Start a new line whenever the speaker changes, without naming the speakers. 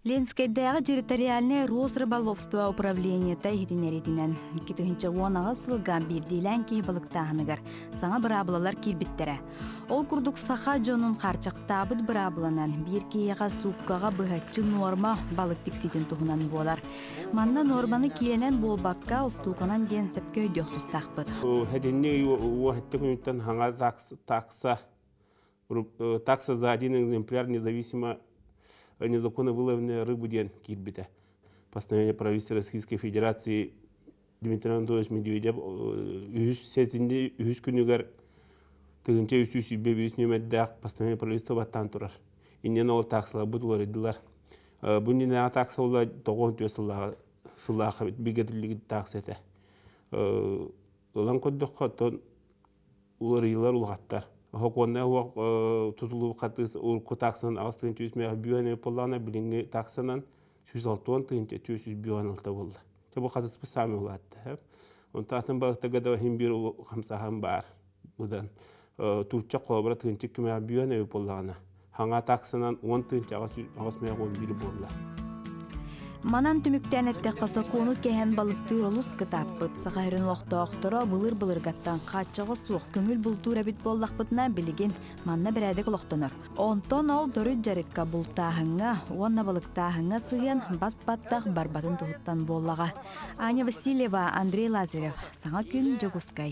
Ленскэйдээҕи территориальнай Росрыболовство управлениета иһитиннэриитинэн, икки тыһыынча уон аҕыс сылга биирдиилээн киһи балыктааһыныгар саҥа быраабылалар киирбиттэрэ. Ол курдук саха дьонун харчахтаабыт быраабыланан биир киһиэхэ сууккаҕа быһаччы нуорма балык тиксиитин туһунан буолар. Манна нуорманы киэнэн буолбакка, устууканан диэн сөпкө өйдүөх тустаахпыт. Эдинни
уохтта күнүттэн хаҥа такса такса за один экземпляр независимо незаконновылование рыбы диэн киирбитэ постановление правительства российской федерации дмитрий анатольевич медведев үһүс сэтинньи үһүс күнүгэр тыгынча үс сүүс сүүрбэ биэс нүөмэрдээх постановление правительства баттаан турар иннинэ ол таксаларбыт уларыйдылар бу иннинээҕи такса була тоҕус он түөрт сыллааҕы сыллаах эбит бигэтиллибит такса этэ ылан көрдөххө оттон уларыйыылар улахаттар сокуоннай оһох тутулубукка урукку таксанан аҕыс тыһыынча үс миэхэ бүүһэни уппуллаҕына билиҥҥи таксанан сүүс алтуон тыһыынча түөрт сүүс бүүһэн алта буолла чэ бу хатыспыт саамай улаатта онтон атын балыктарга да иһин биир хамсааһын баар быдан туучча холобура тыһыынча кимэҕэ бүүһэн эбит буоллаҕына хаҥа таксынан уон тыынча аҕыс мега он биир буолла
Манан түмүктээн эттэххэ, сокуону кэһэн балыктыыр олус кытааппыт. Саха сирин олохтоохторо былыр былыргаттан хааччаҕы суох көҥүл бултуур эбит буоллахпытына, билигин манна бэрээдэк олохтонор. Онтон ол доруйд дьарыкка, бултааһыҥҥа уонна балыктааһыҥҥа сыһыан бас-баттах барбатын туһуттан буоллаҕа. Аня Васильева, Андрей Лазарев, саҥа күн Дьокуускай.